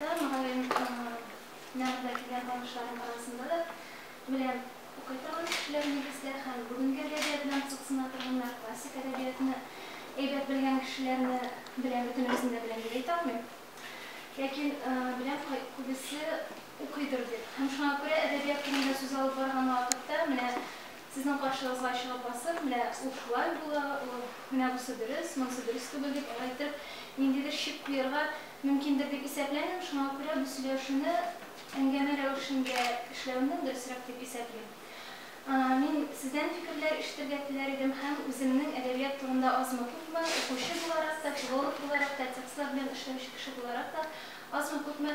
Мөгаллим нәгъдәкиләр барышларын арасында да белән укый торган кешеләр нигездә һәм бүгенге әдәбият белән кызыксына торганнар, классик әдәбиятны әйбәт белгән кешеләрне белән бөтенесен дә беләм дип әйтә алмыйм. Ләкин беләм күбесе укыйдыр дип. Һәм шуңа күрә әдәбият турында сүз алып барган вакытта менә Сезнең каршыгызга чыгып басып, менә ул шулай була, ул, менә бусы дөрес, монысы дөрес түгел, дип аңлайтып, ниндидер чик куярга мөмкиндер дип исәпләмим, шуңа күрә бу сөйләшүне әңгәмә рәвешендә эшләүне дөресрәк дип исәплим. Мин сездән фикерләр ишетергә теләр идем һәм үземнең әдәбият турында азмы-күпме, укучы буларак та, филолог буларак та, текстлар белән эшләүче кеше буларак та азмы-күпме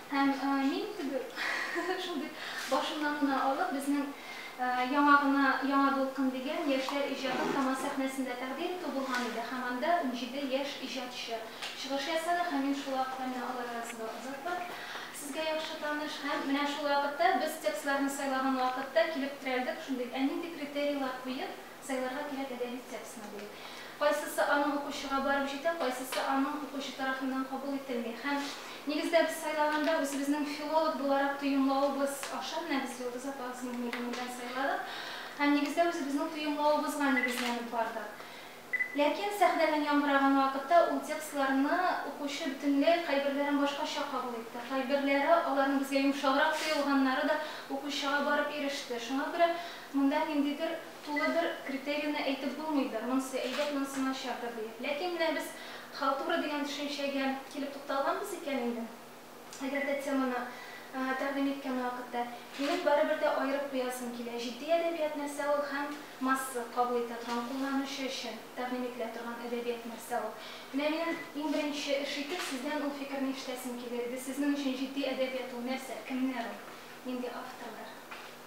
Һәм мин теге шундый башыннан гына алып, безнең яңа гына Яңа дулкын дигән яшьләр иҗатын Камаз сәхнәсендә тәкъдим итү булган иде һәм анда унҗиде яшь иҗатчы чыгыш ясады һәм мин шул вакыт әнә алар арасында озатып, сезгә яхшы таныш һәм менә шул вакытта без текстларны сайлаган вакытта килеп терәлдек, шундый, ә нинди критерийлар куеп, Сайларга кирәк әдәби текстны, ди. Кайсысы аның укучыга барып җитә, кайсысы аның укучы тарафыннан кабул ителми. Һәм, нигездә, без сайлаганда үзебезнең филолог буларак тоемлавыбыз аша менә без Йолдыз апа Гыйсметдинованы белән сайладык һәм, нигездә, үзебезнең тоемлавыбызга нигезләнеп бардык. Ләкин сәхнәдән яңгыраган вакытта ул текстларны укучы бөтенләй кайберләрен башкача кабул итте, кайберләре, аларның безгә йомшаграк тоелганнары да укучыга барып иреште. Шуңа күрә Монда ниндидер тулы бер критерийны әйтеп булмыйдыр, монсы әйбәт, монсы начардыр диеп. Ләкин менә без халтура дигән төшенчәгә килеп тукталганбыз икән инде, әгәр дә теманы тәкъдим иткән вакытта. Минем барыбер дә аерып куясым килә, җитди әдәбият нәрсә ул һәм масса кабул итә торган, кулланучы өчен тәкъдим ителә торган әдәбият нәрсә ул? Менә минем иң беренче эш итеп сездән ул фикерне ишетәсем килер иде, сезнең өчен җитди әдәбият ул нәрсә, кемнәр ул, нинди авторлар?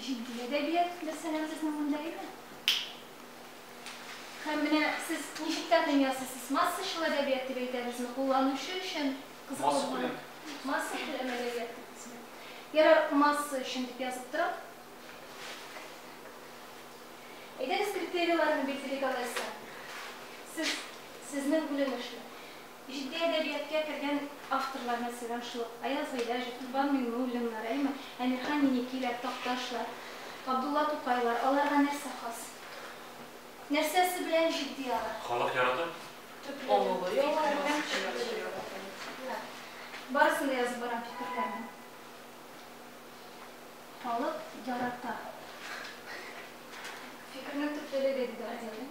Җитди әдәбият, мәсәлән, безнең монда иде. Һәм менә сез ничек тә тыңлыйсыз, сез масса шул әдәбият дип әйтәбезме, кулланучы өчен кызыклы. Масса күләм әдәбият дип исем. Ярар, масса өчен дип язып торам. Әйдәгез критерийларны билгелик алайса. Сез сезнең бүленешне. Җитди әдәбияткә кергән авторлар, мәсәлән, шул ук Аяз Гыйләҗев, Корбан Миңнуллиннар, әйеме, Әмирхан Еникиләр, Такташлар, Габдулла Тукайлар, аларга нәрсә хас? Нәрсәсе белән җитди алар? Халык ярата? Төпләре, фикере белән төпләре ярата. Барысын да язып барам, фикерләрне. Халык ярата. Фикернең төплелеге, диде Азия.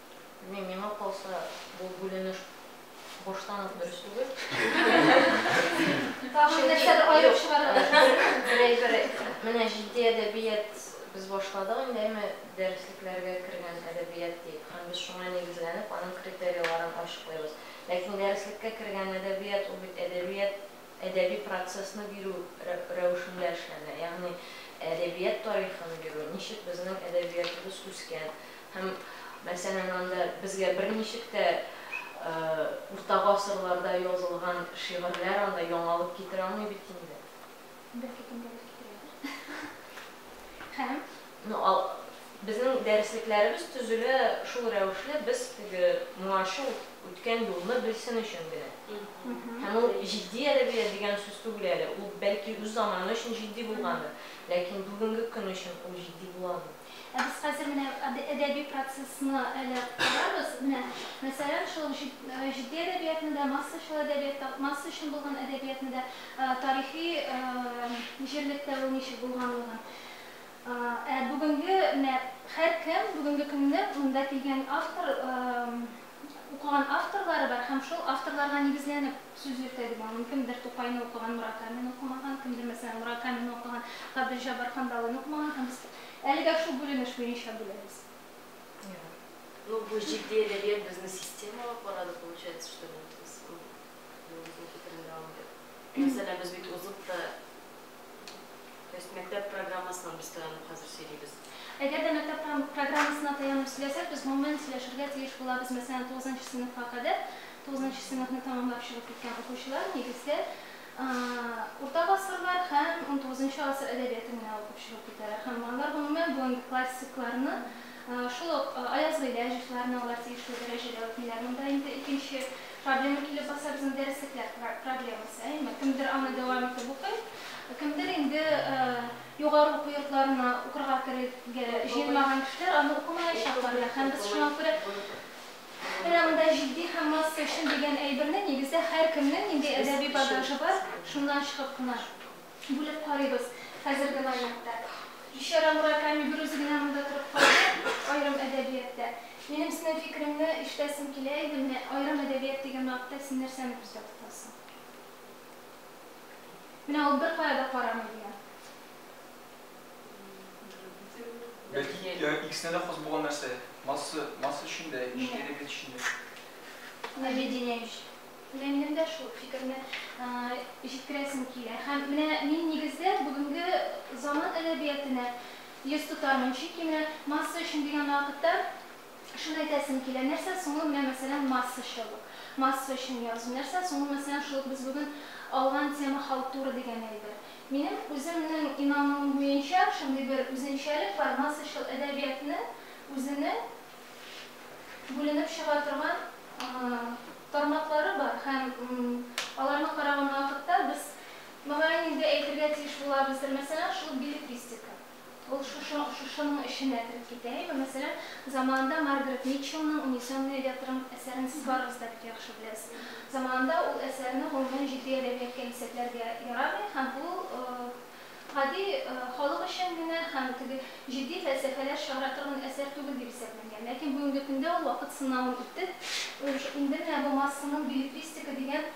Белмим, миңа калса, бу бүленеш баштан ук дөрес түгел. Тагын нәрсәдер аерып чыгарырга кирәк. Берәй бер, менә җитди әдәбият без башладык инде, әйме, дәреслекләргә кергән әдәбият диеп, һәм без шуңа нигезләнеп, аның критерийларын ачыклыйбыз. Ләкин дәреслеккә кергән әдәбият, ул бит әдәбият. Әдәби процессны бирү рәвешендә эшләнә. Ягъни әдәбият тарихын бирү, ничек безнең әдәбиятыбыз үскән һәм, мәсәлән, анда безгә берничек тә урта гасырларда язылган шигырьләр анда яңалык китерә алмый бит инде. Беркем дә бер китерәдер. Һәм Ну ал Безнең дәреслекләребез төзелә шул рәвешле, без теге моңарчы үткән юлны белсен өчен генә. Һәм ул җитди әдәбият дигән сүз түгел әле, ул бәлки үз заманы өчен җитди булгандыр, ләкин бүгенге көн өчен ул җитди була алмый. Ә без хәзер менә әдә әдәби процессны әле карарбыз. Менә мәсәлән, шул җит җитди әдәбиятны да, массачыл әдәбият та, масса өчен булган әдәбиятны да, тарихи җирлектә ул ничек булганлыгын, Ә бүгенге менә һәркем, бүгенге көнне монда килгән автор, укыган авторлары бар һәм шул авторларга нигезләнеп сүз йөртә дип аңлыйм. Кемдер Тукайны укыган, Муракамины укымаган, кемдер, мәсәлән, Муракамины укыган, Габделҗаббар Кандалыйны укымаган һәм без әлегә шул бүленеш буенча бүләбез. Ну, бу җитди әдәбият безне системалап карады, получается, что нет. Без, ну, безнең фикерен дәвам итеп. Мәсәлән, без бит узып та То есть мәктәп программасыннан без таянып хәзер сөйлибез. Әгәр дә мәктәп программасына таянып сөйләсәк, без гомумән сөйләшергә тиеш булабыз. Мәсәлән, тугызынчы сыйныфка кадәр, тугызынчы сыйныфны тәмамлап чыгып киткән укучылар нигездә урта гасырлар һәм унтугызынчы гасыр әдәбиятын генә укып чыгып китәләр. Һәм алар гомумән бүгенге классикларны Шул ук аязгы ләҗетләрне алар тиешле дәрәҗәдә үтмиләр. Монда инде икенче проблема килеп баса, безнең дәреслекләр проблемасы, әйеме? Кемдер аны дәвам итеп укый, кемдер инде югары уку йортларына укырга керергә җыенмаган кешеләр аны укымаячаклар да. Һәм без шуңа күрә менә монда җитди һәм маска өчен дигән әйберне, нигездә, һәркемнең нинди әдәби багажы бар, шуннан чыгып кына Бүлеп карыйбыз хәзерге вариантта. Бичара Мураками берүзе генә монда торып калды, аерым әдәбияттә. Минем синең фикереңне ишетәсем килә иде, менә аерым әдәбият дигән вакытта син нәрсәне күздә тотасың? Менә ул беркая да карамый дигән. Бәлки икесенә дә хас булган нәрсә, масса өчен дә, әдәбият өчен дә. Менә Ведение өчен. Минем дә шул фикерне җиткерәсем килә. Һәм менә мин нигездә бүгенге заман әдәбиятенә йөз тотармын, чөнки менә масса өчен дигән вакытта шуны әйтәсем килә, нәрсә соң ул менә мәсәлән массачылык, масса өчен язу, нәрсә соң ул мәсәлән шул ук без бүген алган тема халтура дигән әйбер. Минем үземнең инануым буенча шундый бер үзенчәлек бар, массачыл әдәбиятны үзенең бүленеп чыга торган тармаклары бар һәм аларны караган вакытта без, мөгаен инде, әйтергә тиеш булабыздыр, мәсәлән, шул беллетристика, ул шушының эченә кереп китә, әйеме? Мәсәлән, заманында Маргарет Митчеллның Унесенные ветром әсәрен сез барыгыз да бик яхшы беләсез. Заманында ул әсәрне гомумән җитди әдәбият кәлисәтләргә ярамый һәм ул гади халык өчен генә һәм теге җитди фәлсәфәләр чыгара торган әсәр түгел дип исәпләнгән. Ләкин бүгенге көндә ул вакыт сынавын үтеп, инде менә бу массаның беллетристика дигән,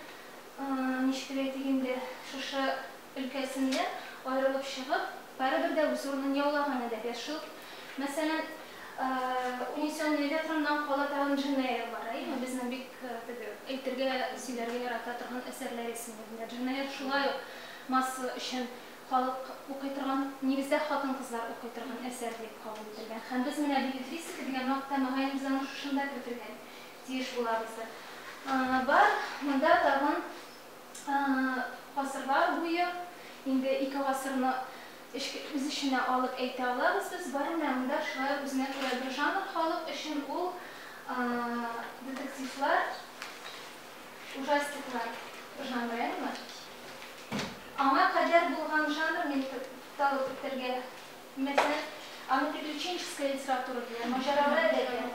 ничек дип әйтик инде, шушы өлкәсендә аерылып чыгып, барыбер дә үз урынын яулаган әдәбиятчыл. Мәсәлән, Унесенные ветрымнан кала тагын Дженнәя Элвара, әйеме, безнең бик теге әйтергә, сөйләргә ярата торган әсәрләр исемлегендә. Дженнәя шулай ук Масса өчен халык укый торган, нигездә хатын-кызлар укый торган әсәр дип кабул ителгән. Һәм без менә беллетристика дигән мактә, мөгаен, без аны шушында кертергә тиеш булабыздыр. Бар, монда тагын гасырлар буе, инде ике гасырны үз эченә алып әйтә алабыз без, бар менә монда шулай үзенә күрә бер жанр халык өчен, ул детективлар. Ужастиклар жанренмы? Аңа кадәр булган жанр мин табып үтәргә мөһим. Аны приключенческая литература диләр, маҗаралы әдәбият.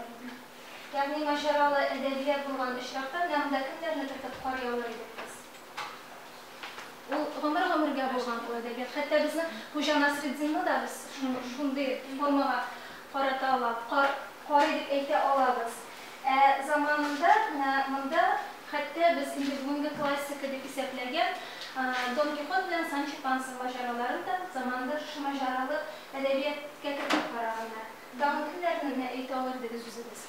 Ягъни маҗаралы әдәбият булган очракта менә монда кемнәрне кертеп карый алыр идек без? Ул гомер-гомергә булган ул әдәбият. Хәтта безнең Хуҗа Насретдинны да без шундый формага карата алабыз, карый дип әйтә алабыз. Ә заманында менә монда хәтта без инде бүгенге классика дип исәпләгән Дон Кихот белән Санчо Панса маҗараларын да заманында шушы маҗаралы әдәбияткә кертеп караганнар. Тагын кемнәрне генә әйтә алыр идегез үзегез?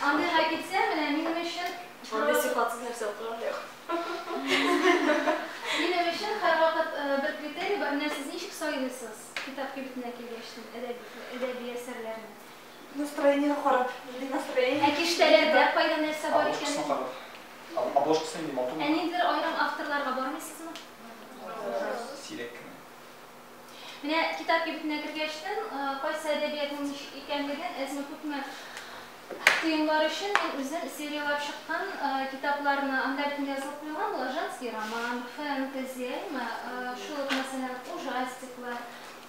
Андыйга китсә, менә минем өчен Андый сыйфатсыз нәрсә укыган да юк. Минем өчен һәрвакыт бер критерий бар, менә сез ничек сайлыйсыз китап кибетенә килгәч әдәби әсәрләрне? Настроениегә карап, нинди настроение. Ә киштәләрдә кайда нәрсә бар икәнен? Обложкасына карап. Обложкасы нинди, матурмы? Ә ниндидер аерым авторларга бармыйсызмы? Сирәк кенә. Менә китап кибетенә кергәч тен, кайсы әдәбиятның ничек икәнлеген, әзме-күпме тыемлар өчен мин үзем серияләп чыккан китапларны, анда бит язылып куелган була, женский роман, фэнтези, әйеме, шул ук, мәсәлән, ужастиклар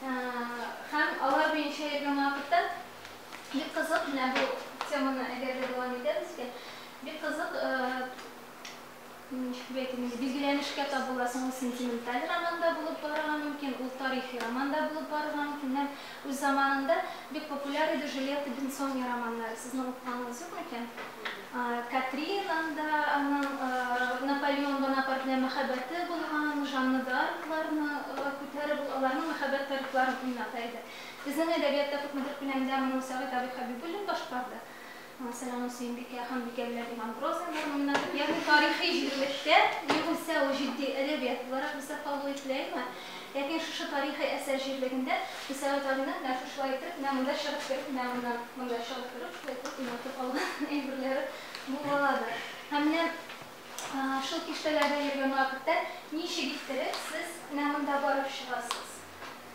һәм алар буенча йөргән вакытта бик кызык, менә бу теманы әгәр дә дәвам итәбез икән, бик кызык Ничек әйтим инде, билгеләнешкә табыла. Соң ул сентименталь роман да булып барырга мөмкин, ул тарихи роман да булып барырга мөмкин. Менә үз заманында бик популяр иде Жюльетта Бенсони романнары. Сезнең укыганыгыз юк микән? Катринан да, аның Наполеон Бонапарт белән мәхәббәте булган, Жанна д'Аркларны күтәреп, ул аларның мәхәббәт тарихларын уйната иде. Безнең әдәбиятта күпмедер күләмдә моны Сәгыйть абый Хәбибуллин башкарды. Мәсәлән, Сөембикә, Ханбикә белән Иван Грозный гармуннары, ягъни тарихи җирлектә, ни булса ул җитди әдәбият буларак бездә кабул ителә, әйеме? Ләкин шушы тарихи әсәр җирлегендә Мөсәгать Галинең менә шушылай итеп, менә монда чыгып кереп, менә моннан монда чыгып кереп, шулай итеп уйнатып алган әйберләре булгаладыр. Һәм менә шул киштәләрдә йөргән вакытта ничек иттереп сез менә монда барып чыгасыз?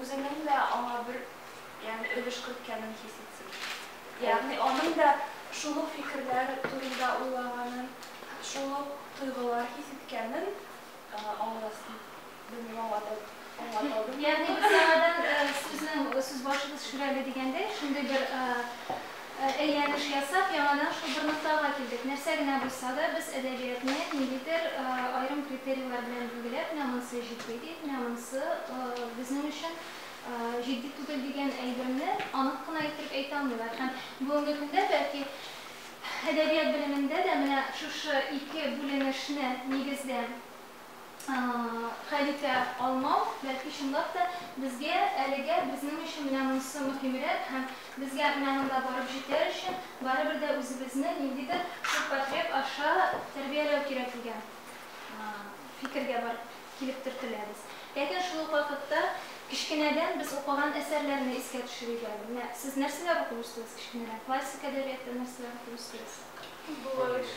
үзенең дә аңа бер, ягъни өлеш керткәнен хис итсен. Ягъни аның да шул ук фикерләр турында уйлаганын, шул ук тойгылар хис иткәнен аңласын. Белмим, аңлатып, аңлаталдыммы? Ягъни без яңадан сүзнең сүз башыбыз шүрәле дигәндәй, шундый бер Әйләнеш ясап, яңадан шул бер ноктага килдек. Нәрсә генә булса да, без әдәбиятны ниндидер аерым критерийлар белән билгеләп, менә монысы җитди дип, менә монысы безнең өчен җитди түгел дигән әйберне анык кына иттереп әйтә алмыйлар. Һәм бүгенге көндә, бәлки, әдәбият белемендә дә менә шушы ике бүленешне нигездә хәл итә алмау, бәлки чынлап та безгә әлегә безнең өчен менә монысы мөһимрәк һәм безгә менә монда барып җитәр өчен барыбер дә үзебезне ниндидер ширпотреб аша тәрбияләү кирәк дигән фикергә барып килеп төртеләбез. Ләкин шул ук вакытта кечкенәдән без укыган әсәрләрне искә төшерик әле. Менә сез нәрсәләр укып үстегез кечкенәдән? Классик әдәбиятта нәрсәләр укып үстегез? Булыр ич.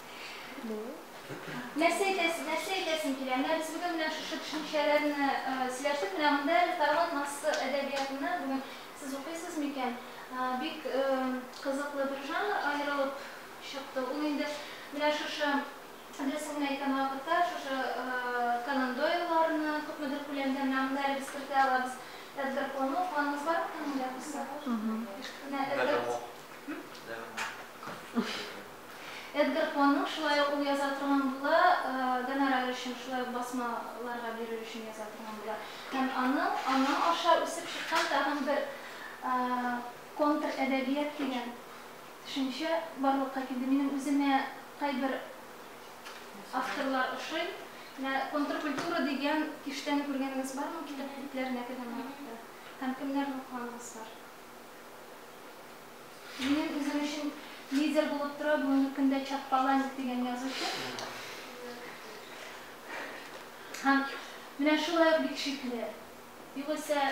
Нәрсә әйтәсең, нәрсә әйтәсең килә? Менә без бүген менә шушы төшенчәләрне сөйләштек. Менә монда әле Тарган массасы әдәбиятына бүген сез укыйсыз микән? Бик кызыклы бер жанр аерылып чыкты. Ул инде менә шушы дөресен генә әйткән вакытта шушы Конан Дойлларны күпмедер күләмдә менә монда әле без кертә алабыз. Эдгар Поны укыганыгыз бар микән монда кызлар? Менә Эдгар. Nevermore. Nevermore. Эдгар Понның шулай ук ул яза торган була, гонорар өчен, шулай ук басмаларга бирер өчен яза торган була. Һәм аның, аның аша үсеп чыккан тагын бер контр-әдәбият дигән төшенчә барлыкка килде. Минем үземә кайбер авторлар ошый. Менә контркультура дигән киштәне күргәнегез бармы китап битләренә кергән вакытта? Һәм кемнәрне укыганыгыз бар? Минем үзем өчен лидер булып тора бүгенге көндә Чак Паланик дигән язучы. Һәм менә шулай ук бик шикле. Югыйсә,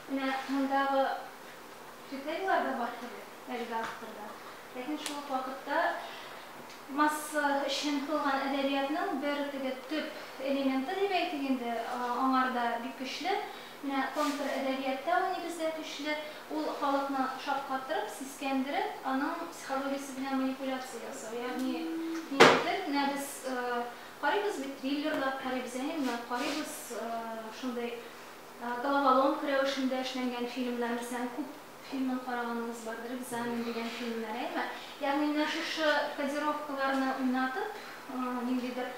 менә мондагы критерийлар да бар теге әлеге авторда. Ләкин шул ук вакытта масса өчен кылган әдәбиятның бер теге төп элементы дип әйтик инде, аңарда бик көчле. Менә контр әдәбиятта ул нигездә көчле, ул халыкны шаккатырып, сискәндереп, аның психологиясе белән манипуляция ясау. Ягъни ниндидер, менә без карыйбыз бит, триллерлар карыйбыз, әни менә карыйбыз шундый головоломка рәвешендә эшләнгән фильмнар, мәсәлән, күп фильмын караганыгыз бардыр, экзамен дигән фильмнар, әйме? Ягъни менә шушы кодировкаларны уйнатып, ниндидер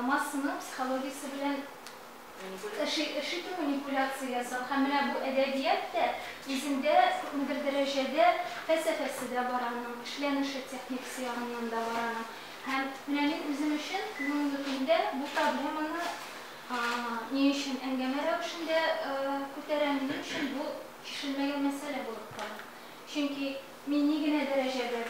массаның психологиясе белән Ышыту, манипуляция ясау һәм менә бу әдәбият тә үзендә күпмедер дәрәҗәдә фәлсәфәсе дә бар аның, эшләнеше, техникасы ягыннан да бар аның. Һәм менә мин үзем өчен бүгенге көндә бу проблеманы ни өчен әңгәмә рәвешендә күтәрәм, минем өчен бу чишелмәгән мәсьәлә булып кала. Чөнки мин ни генә дәрәҗәдә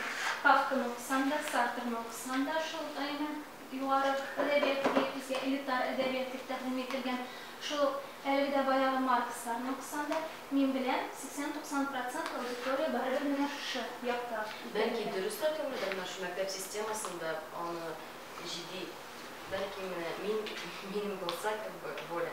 Кафканы укысам да, Сартрны укысам да, шул гайнә. Югары әдәбият дип әйтелсә, элитар әдәбият дип тәкъдим ителгән шул ук әлеге дә баягы Марксларны укысан да, мин беләм, 80-90 процент аудитория барыбер менә шушы якта икән Бәлки иде. дөрес тә түгелдер, менә шул мәктәп системасында аны җиди, бәлки менә мин, минем булса как бы воля,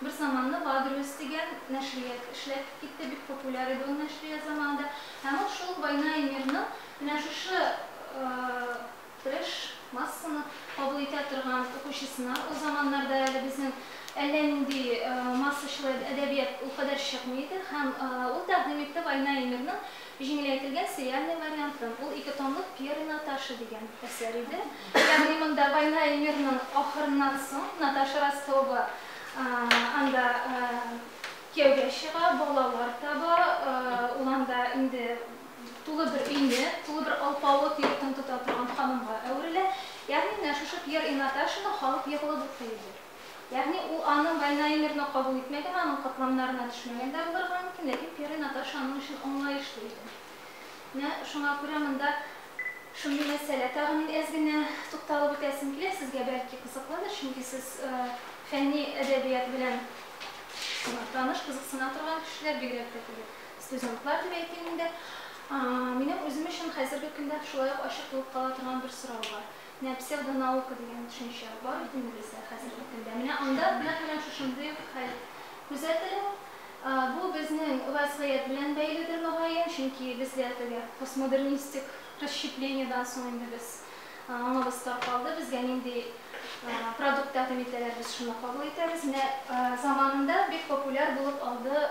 Бер заманны Вадрюс дигән нәшрият эшләп китте, бик популяр иде ул нәшрият заманында. Һәм ул шул Война и мирның менә шушы трэш массаны кабул итә торган укучысына, ул заманнарда әле безнең әллә нинди массачыл әдәбият ул кадәр чыкмый иде, һәм ул тәкъдим итте Война и мирның Җиңеләйтелгән сериальный вариантын, ул ике томлык Пьер и Наташа дигән әсәр иде. Ягъни монда Война и мирның ахырыннан соң Наташа Ростова анда кияүгә чыга, балалар таба, ул анда инде тулы бер өйне, тулы бер алпавыт йортын тота торган ханымга әверелә. Ягъни менә шушы Пьер и Наташаны халык егылып укый иде. Ягъни ул аның Вайнаймерны кабул итмәгән, аның катламнарына төшмәгән дә булырга мөмкин, ләкин Пьере Наташ аның өчен аңлаешлы иде. Менә шуңа күрә монда шундый мәсьәлә. Тагын мин әз генә тукталып үтәсем килә, сезгә бәлки кызыклыдыр, чөнки сез фәнни әдәбият белән таныш, кызыксына торган кешеләр, бигрәк тә теге студентлар дип әйтим инде. Минем үзем өчен хәзерге көндә шулай ук ачык булып кала торган бер сорау бар. Менә псевдонаука дигән төшенчә бар бит инде бездә хәзерге көндә. Менә анда нәкъ менә шушындый ук хәл күзәтелә. Бу безнең вәзгыять белән бәйледер, мөгаен, чөнки безгә теге постмодернистик расщеплениедан соң инде без аңыбыз таркалды, безгә нинди продукт тәкъдим итәләр, без шуны кабул итәбез. Менә заманында бик популяр булып алды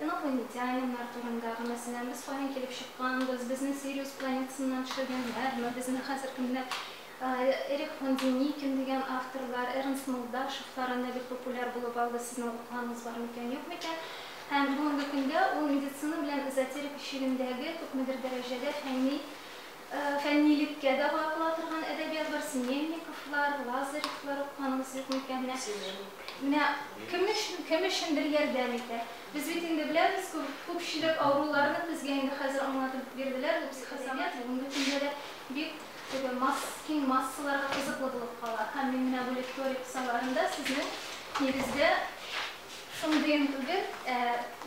Инопланетяниннар турындагы, мәсәлән, без каян килеп чыкканбыз, безне Сириус планетасыннан төшергәннәрме, безне хәзер кемнәр, Эрик фон Деникин дигән авторлар, Эрнст Молдашевлар анда бик популяр булып алды, сезнең укыганыгыз бар микән, юк микән? Һәм бүгенге көндә ул медицина белән эзотерика чигендәге күпмедер дәрәҗәдә фәнни Фәннилеккә дә гаепла торган әдәбиятлар, Семенниковлар, Лазаревлар укыгангыз юк микән? Менә, менә кем өчен, кем өчендер ярдәм итә. Без бит инде беләбез, күп, күпчелек авыруларны безгә инде хәзер аңлатып бирделәр, бу психосомат бүгенге көндә дә бик теге масс, киң массаларга кызыклы булып кала. Һәм мин менә бу лекторий кысаларында сезнең, нигездә, шундыен түгел, ә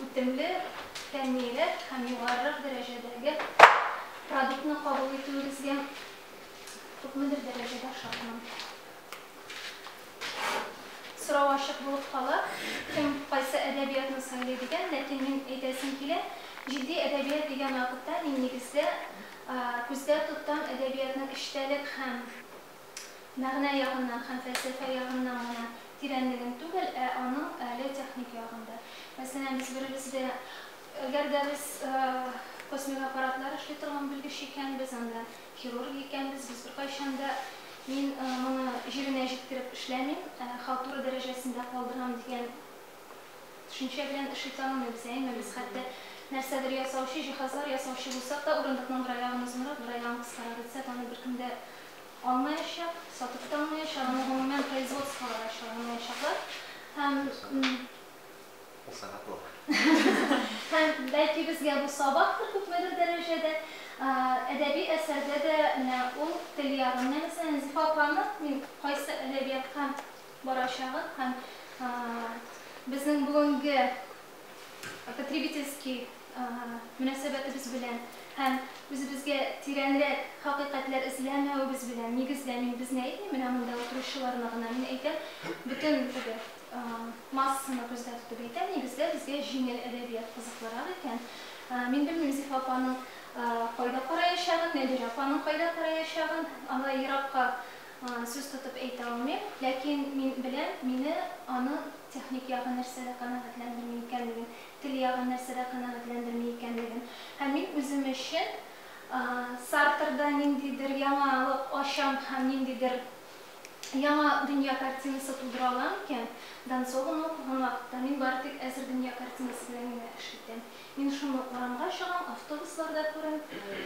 үтемле, фәннирәк һәм югарырак дәрәҗәдәге Продуктны кабул итүегезгә күпмедер дәрәҗәдә шатмын. Сорау ачык булып кала, кем кайсы әдәбиятны сайлый дигән, ләкин мин әйтәсем килә, җитди әдәбият дигән вакытта мин нигездә күздә тоттам әдәбиятның эчтәлек һәм мәгънә ягыннан һәм фәлсәфә ягыннан гына тирәнлеген түгел, ә аның әле техник ягын да. Мәсәлән, без беребезгә Әгәр дә без космик аппаратлар эшли торган белгеч икәнбез, анда хирург икәнбез, без беркайчан да мин моны җиренә җиткереп эшләмим, халтура дәрәҗәсендә калдырам дигән төшенчә белән эш итә алмыйбыз. Әйеме? Без хәтта нәрсәдер ясаучы, җиһазлар ясаучы булсак та, урындыкның бер аягын озынрак, бер аягын кыскарак итсәк, аны беркем дә алмаячак, сатып та алмаячак, аны гомумән производстволар да чыгара алмаячаклар. Һәм. Ул сәгать бар. Һәм, бәлки, безгә бу сабактыр, күпмедер дәрәҗәдә. Әдәби әсәрдә дә менә ул тел ягын. Менә, мәсәлән, Зифа апаның мин кайсы әдәбиятка барачагын һәм безнең бүгенге потребительский мөнәсәбәтебез белән һәм үзебезгә тирәнрәк хакыйкатьләр эзләмәвебез белән, нигездә, мин безне әйтмим, менә монда утыручыларны гына мин әйтәм, бөтен теге. Массаны күздә тотып әйтәм, нигездә безгә җиңел әдәбият кызыклырак икән. Мин белмим Зифа апаның кайда караячагын, Нәбирә апаның кайда караячагын, алай еракка сүз тотып әйтә алмыйм. Ләкин мин беләм, мине аның техник ягы нәрсәдә канәгатьләндерми икәнлеген, тел ягы нәрсәдә канәгатьләндерми икәнлеген. Һәм мин үзем өчен Сартрда ниндидер яңалык ачам һәм ниндидер яңа дөнья картинасы тудыра ала микән? Донцованы укыган вакытта мин бары тик әзер дөнья картинасы белән генә эш итәм. Мин шуны урамга чыгам, автобусларда күрәм,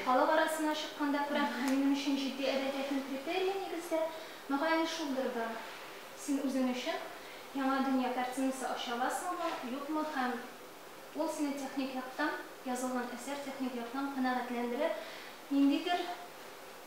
халык арасына чыкканда күрәм һәм минем өчен җитди әдәбиятның критерие, нигездә, мөгаен, шулдыр да. Син үзең өчен яңа дөнья картинасы ача аласыңмы, юкмы һәм ул сине техник яктан, язылган әсәр техник яктан канәгатьләндерә, ниндидер,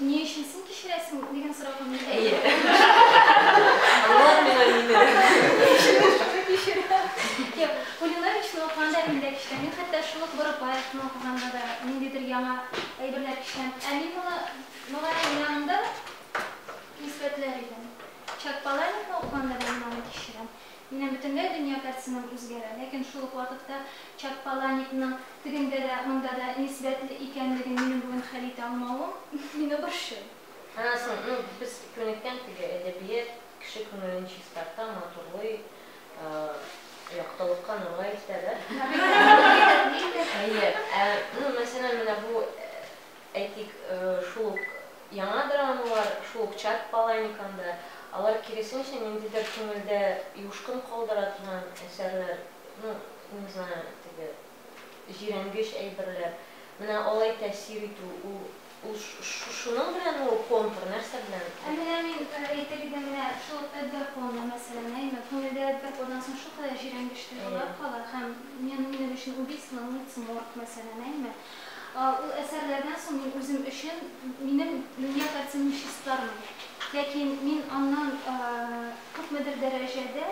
Ни өчен син кичерәсең дигән сорауга мин әйе. Аңлар миңа мине. Юк, Кулиновичны укыганда мин дә кичерәм. Мин хәтта шул ук Борыклаевны укыганда да ниндидер яңа әйберләр кичерәм. Ә мин моны мөгаллим янында исбатлар идем. Чак Паланикны укыганда да мин аны кичерәм. Минем бөтенләй дөнья картинам үзгәрә, ләкин шул ук вакытта Чаппаланикның тегендә дә, монда да нисбәтле икәнлеген минем бүген хәл итә алмавым мине борчый. Анасын, ну, без күнеккән теге, әдәбият кеше күңелен чистарта, матурлый, яктылыкка, нурга илтә, да? Әйе. Әйе. Әйе. Ә, ну, мәсәлән, менә бу Әйтик, шул ук яңа драмалар, шул ук Чат Паланикан да, алар киресенчә ниндидер күңелдә юшкын калдыра торган әсәрләр, ну, не знаю, теге җирәнгеч әйберләр. Менә алай тәэсир итү, ул, ул шуның беләнме ул контур, нәрсә белән? Ә менә мин әйтер идем, менә шул ук Эдгар Понны, мәсәлән, әйме, күңелдә бер пордан соң шулкадәр җирәнгеч тойгылар кала һәм, минем өчен, Убийство на улице Морг, мәсәлән, әйме, Ул әсәрләрдән соң мин үзем өчен, минем, меня как ценниществлармын. Ләкин мин аннан күпмедер дәрәҗәдә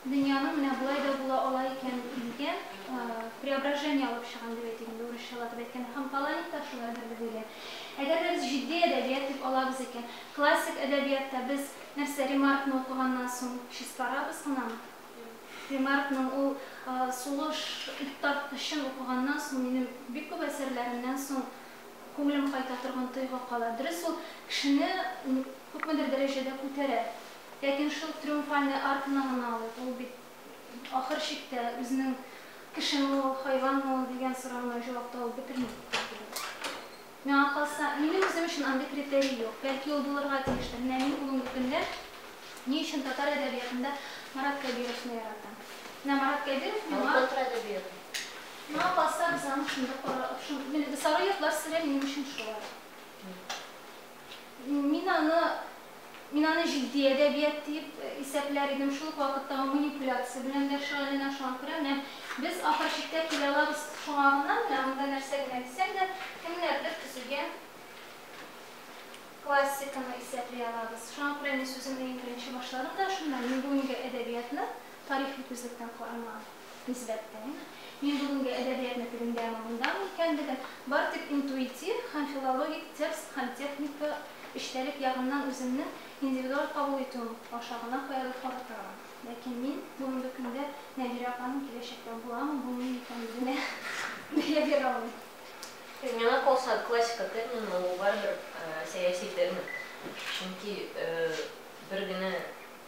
дөньяның менә болай да була ала икән дигән преображение алып чыгам дип әйтик инде, урысчалатып әйткәндә. Һәм Паланик та шулайдыр дип уйлыйм. Әгәр дә без җитди әдәбият дип алабыз икән, классик әдәбиятта без нәрсә, Ремаркны укыганнан соң чистарабыз гынамы? Ремаркның ул сулыш туктаткычын укыганнан соң минем бик күп әсәрләремнән соң күңелем кайта торган тойгы кала. Дөрес, ул кешене күпмедер дәрәҗәдә күтәрә. Ләкин шул триумфальный арканы гына алыйк, ул бит ахыр чиктә үзенең кешеме ул, хайванмы ул дигән сорауына җавап табып бетерми. Миңа калса, минем үзем өчен андый критерий юк. Бәлки ул булырга тиештер. Менә мин бүгенге көндә ни өчен татар әдәбиятында Марат Кәбировны яратам? Менә Марат Кәбиров миңа... Ул татар әдәбияты. Миңа калса, без аны шунда кара... Шун... Сары йортлар сере минем өчен шулай. Мин аны Мин аны җитди әдәбият диеп исәпләр идем, шул ук вакытта ул манипуляция белән дә шөгыльләнә, шуңа күрә менә без ахыр чиктә килә алабыз шуңагына, менә монда нәрсә генә дисәң дә, кемнәрдер төзегән классиканы исәпли алабыз. Шуңа күрә мин сүземне иң беренче башларым да шуннан, мин бүгенге әдәбиятны тарихи күзлектән карамаган. Нисбәттән, мин бүгенге әдәбиятны тегендә ме, монда ме икәнлеген бары тик интуитив һәм филологик текст һәм техника, эчтәлек ягыннан үземнең индивидуаль кабул итүем аша гына каядыр карап торам. Ләкин мин бүгенге көндә Нәбирә апаның киләчәктә буламы, булмыймы икәнлегенә бәя бирә алмыйм. Миңа калса, классика термины ул барыбер сәяси термин. Чөнки бер генә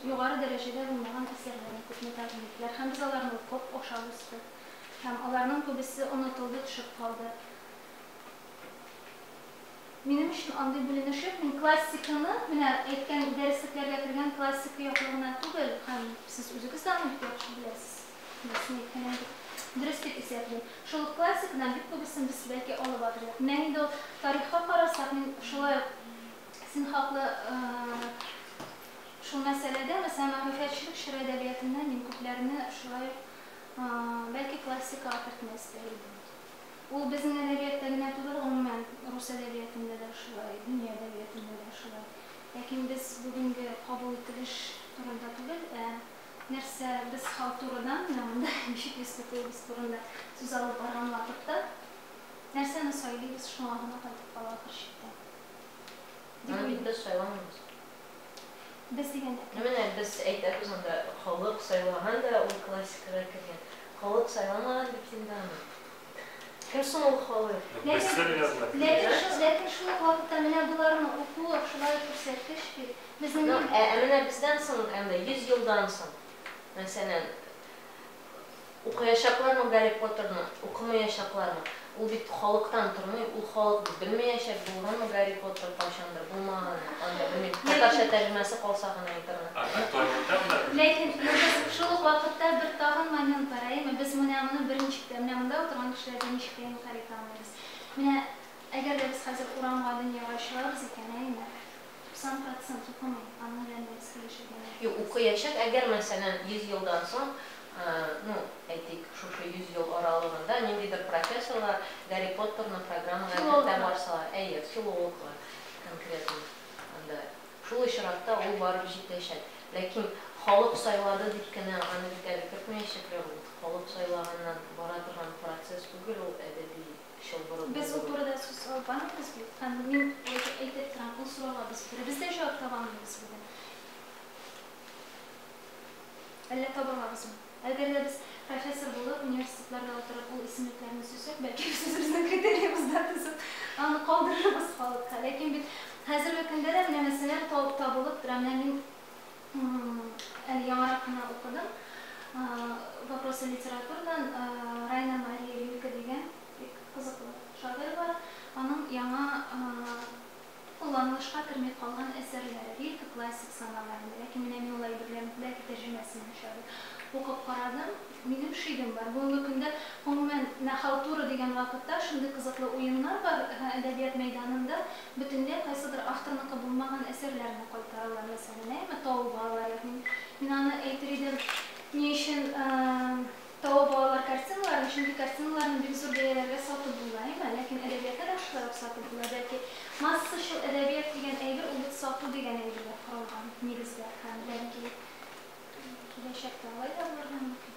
Югары дәрәҗәдә булмаган әсәрләрне күпме тәкъдим иттеләр һәм без аларны укып, ашап үстек. Һәм аларның күбесе онытылды, төшеп калды. Минем өчен андый бүленешек, мин классиканы, менә әйткән дәреслекләргә кергән классика яклы гына түгел, һәм сез үзегез дә аны бик яхшы беләсез, нәрсәне әйткәнен бик дөрес дип исәплим. Шул ук классикадан бик күбесен без, бәлки, алып атырдык. Менә инде ул тарихка карасак, мин шулай ук син хаклы, Шул мәсьәләдә, мәсәлән, мәгърифәтчелек чоры әдәбиятында мин күпләрне шулай ук, бәлки, классикага кертми эстәр идем. Ул безнең әдәбиятта генә түгел, гомумән, рус әдәбиятында да шулай, дөнья әдәбиятында да шулай. Ләкин без бүгенге кабул ителеш турында түгел, ә нәрсә, без халтурадан, менә монда ничек йөз тотуыбыз турында сүз алып барган вакытта, нәрсәне сайлыйбыз, шуңа гына кайтып кала ахыр чиктә, дип уйлыйм. Аны бит без сайламыйбыз. Без дигән әкрен. Ну менә без әйтәбез анда, халык сайлаган да ул классикага кергән. Халык сайламаган бит инде аны. Кем соң ул халык? Ләкин ләкин шул ук вакытта менә боларның укуы шулай ук күрсәткеч бит. Безнең. Ну ә менә бездән соң, анда 100 елдан соң, мәсәлән, Укыячаклармы Гарри Поттерны, укымыячаклармы? Ул бит халыктан тормый, ул халык бит белмәячәк, булганмы Гарри Поттер кайчандыр, булмаганмы, анда, белмим, татарча тәрҗемәсе калса гына интернетта. А актерлыктан да белмим. Ләкин без шул ук вакытта бер тагын момент бар, әйеме? Без менә моны берничек тә, менә монда утырган кешеләргә ничек тә инкарь итә алмыйбыз. Менә әгәр дә без хәзер урамга, дөньяга чыгабыз икән, әйеме? 90 процент укымый, аның белән дә без килешергә. Юк, укыячак, әгәр мәсәлән 100 елдан соң, ну, әйтик, шушы 100 ел аралыгында ниндидер профессорлар Гарри Поттерны программага кертә барсалар, әйе, филологлар конкретно анда, шул очракта ул барып җитәчәк. Ләкин халык сайлады дип кенә аны бит әле кертмәячәкләр, ул халык сайлаганнан бара торган процесс түгел ул әдәби. чылбыры Без ул турыда сүз алганбыз бит һәм мин әйтеп әйтеп торам, ул сорауга без беребез дә җавап таба алмыйбыз бүген. Әллә таба алабызмы? Әгәр дә без профессор булып, университетларда утырып ул исемлекләрне сөйсәк, бәлки без үзебезнең критериебызда төзеп, аны калдырырбыз халыкка. Ләкин бит хәзерге көндә дә менә мәсьәләләр табылып тора. Менә мин Әле яңарак кына укыдым. Вопросы литературдан Райна Мария Рильке дигән бик кызыклы шагыйрь бар. Аның яңа кулланылышка керми калган әсәрләре. Рильке классик санала инде, ләкин менә мин ул әйберләрнең күбрәге тәрҗемәсен яшәде. Укып карадым. Минем шигем бар. Бүгенге көндә, гомумән, менә халтура дигән вакытта шундый кызыклы уеннар бар әдәбият мәйданында. Бөтенләй кайсыдыр авторныкы булмаган әсәрләрне кайтаралар. Әйтерсеңме, тау балалары юк. Мин аны әйтер идем, ни өчен тау балалар картиналарын, чөнки картиналарны бик зур бәяләргә сатып була, әйме? Ләкин әдәбиятны да шулай ук сатып була. Бәлки, массачыл әдәбият дигән әйбер ул бит сату дигән әйбергә корылган нигездә һәм, бәлки, киләчәктә алай да булырга мөмкин.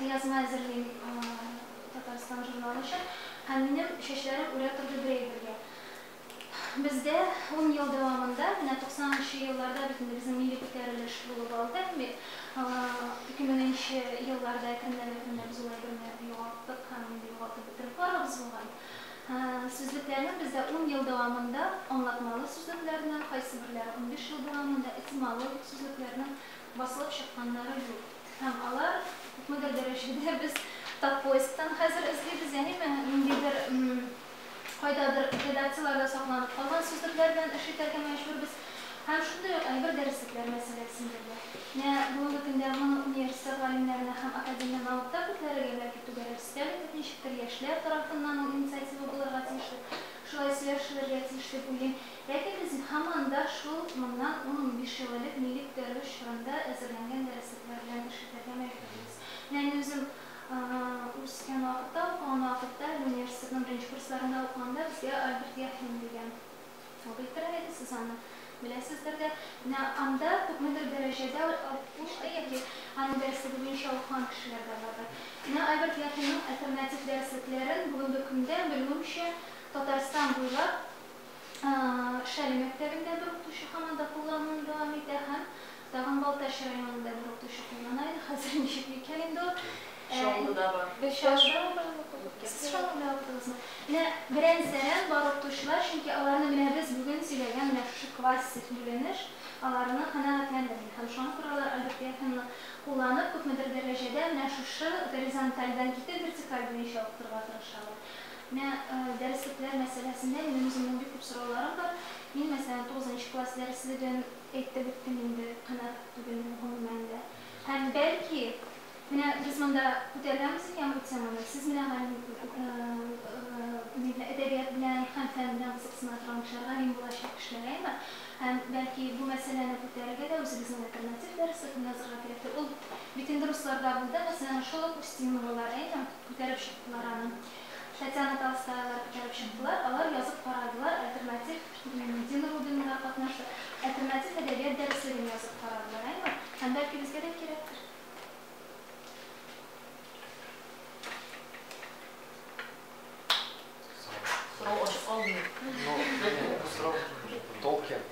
Язма әзерлим Татарстан журналы өчен. Һәм минем чәчләрем үрә торды бер әйбергә. Бездә ун ел дәвамында, менә 90 нчы елларда бит инде безнең милли күтәрелеш булып алды бит. Ике меңенче елларда әкренләп-әкренләп без ул әйберне югалттык һәм инде югалтып бетереп барабыз булган. Сүзлекләрне бездә ун ел дәвамында аңлатмалы сүзлекләрне, кайсыберләре унбиш ел дәвамында этимологик сүзлекләрнең басылып чыкканнары юк. Һәм алар күпмедер дәрәҗәдә без Татпоисктан хәзер эзлибез, әниме, ниндидер кайдадыр редакцияләрдә сакланып калган сүзлекләр белән эш итәргә мәҗбүрбез. Һәм шундый ук әйбер дәреслекләр мәсьәләсендә дә. Менә бүгенге көндә моны университет галимнәренә һәм академия мавыкта күтәрергә бәлки түгәрәк өстәл итеп, ничектер яшьләр тарафыннан ул инициатива булырга тиешле, шулай сөйләшелергә тиеш дип уйлыйм. Ләкин без һаман да шул моннан ун-унбиш ел элек милли күтәрелеш чорында әзерләнгән дәреслекләр белән эш итәргә мәҗбүрбез. Менә мин үзем үскән вакытта, укыган вакытта, әле университетның беренче курсларында укыганда, безгә Альберт Яхин дигән абый керә иде, сез аны беләсездер дә. Менә анда күпмедер дәрәҗәдә укучы яки аның дәреслеге буенча укыган кешеләр дә бардыр. Менә Альберт Яхинның альтернатив дәреслекләрен бүгенге көндә, белүемчә, Татарстан буйлап Шәле мәктәбендә бер укытучы һаман да куллануын дәвам итә һәм тагын Балтач районында бер укытучы куллана иде. Хәзер ничек микән инде ул? Чаллыда бар. Без Чаллыда укыдык. Сез Чаллыда укыдыгызмы? Менә берәмсерәп бар укытучылар, чөнки аларны менә без бүген сөйләгән менә шушы классик бүленеш аларны канәгатьләндерми һәм шуңа күрә алар Альберт Яхинны кулланып, күпмедер дәрәҗәдә менә шушы горизонтальдән китеп вертикаль буенча укытырга тырышалар. Менә дәреслекләр мәсьәләсендә минем үземнең бик күп сорауларым бар. Мин, мәсәлән, тугызынчы класс дәреслеген әйтеп беттем инде, канәгать түгелмен, гомумән дә. Һәм, бәлки, менә без монда күтәргәнбез икән бу теманы, сез менә галим, га, әдәбият белән һәм фән белән кызыксына торган кешеләр, галим булачак кешеләр, әйеме? Һәм, бәлки, бу мәсьәләне күтәрергә дә үзебезнең альтернатив дәреслекне язырга кирәктер. Ул бит инде русларда булды, мәсьәлән, шул ук Устиноволар, әйеме? Күтәреп чыктылар аны. Татьяна Толстаялар күтәреп чыктылар, алар язып карадылар, альтернатив Дина Рубиннар катнашты, альтернатив әдәбият дәреслеген язып карадылар, әйме? Һәм бәлки безгә дә кирәктер. Сорау ачык калдымы? Юк, бу сорау Толкин.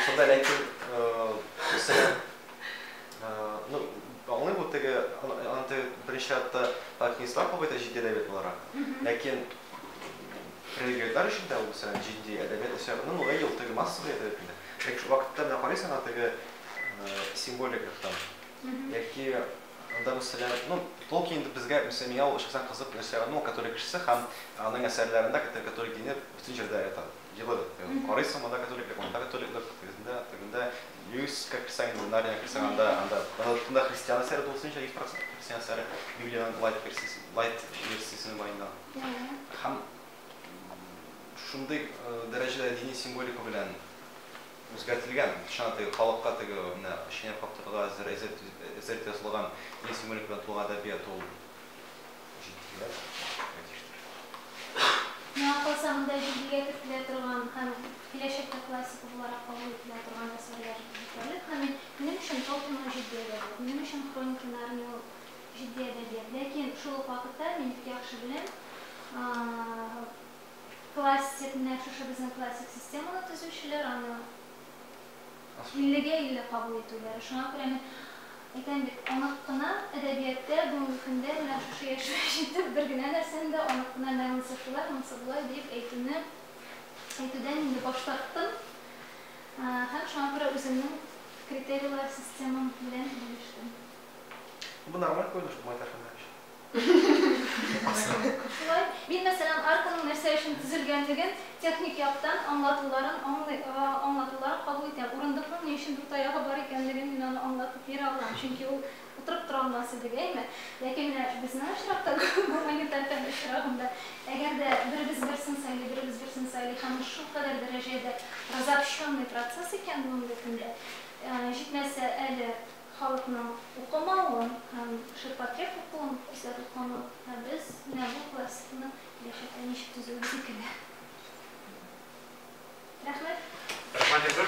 Шунда ләкин ну, аңлый бу теге анда беренче чиратта алпинистлар кабыйта җитди әдәбият буларак. Ләкин регионнар өчен дә ул сәләм җитди әдәбият исәбеннән ул ел теге массовый әдәбият инде. Ләкин шул вакытта менә карыйсың аңа теге символика там. Яки Анда мәсәлән, ну, Толкин инде безгә Мөсәмия ул шәхсән кызык нәрсә ягыннан, ул католик кешесе һәм аның әсәрләрендә католик католик дине бөтен җирдә ята. Җылы, карыйсың, монда католиклык, монда католиклык, тегесендә, тегендә. Льюиска керсәң инде, Нарнияга керсәң, анда, анда, анда бөтенләй христиан әсәре тулысынча, 100 процент христиан әсәре, Библиянең лайт версиясе, лайт версиясенең баенда. Һәм шундый дәрәҗәдә дини символика белән. Үзгәртелгән, чыннан теге халыкка теге менә чәйнәп каптырырга әзер әзерлек ясалган ил сөюлек белән тулган әдәбият ул җитдият, әйтештер. Миңа калса, монда җитдигә кертелә торган һәм киләчәктә классика буларак кабул ителә торган әсәрләр җитәрлек һәм мин, минем өчен Толкин ул җитди әдәбият, минем өчен Хроники Нарнии ул җитди әдәбият, ләкин шул ук вакытта мин бик яхшы беләм, Классик, менә шушы безнең классик системаны төзүчеләр аны иллегә илле кабул итүләре. Шуңа күрә мин әйтәм бит, онык кына әдәбиятта бүгенге көндә менә шушы яшьгә җитеп, бер генә нәрсәне дә онык кына мә монсы шулай, монсы болай диеп әйтүне әйтүдән инде баш тарттым һәм шуңа күрә үземнең критерийлар системам белән бүлештем. Бу нормаль күренеш бу, Айдар Хәмранович. Шулай. Мин, мәсәлән, арканың нәрсә өчен төзелгәнлеген, техник яктан аңлатуларын аңлый, аңлатуларын кабул итәм. Урындыкның ни өчен дүрт таягы бар икәнлеген мин аны аңлатып бирә алам, чөнки ул утырып тора алмас иде, әйме? Ләкин менә безнең очракта, гуманитар фән очрагында, әгәр дә беребез берсен сайлый, беребез берсен сайлый һәм ул шулкадәр дәрәҗәдә разобщенный процесс икән бүгенге көндә, җитмәсә әле, Халыкның укымавын һәм ширпотреб укуын күрсәтү канун, ә без менә бу классиканы киләчәктә ничек төзербез икән? Рәхмәт. Рәхмәт, Илсур.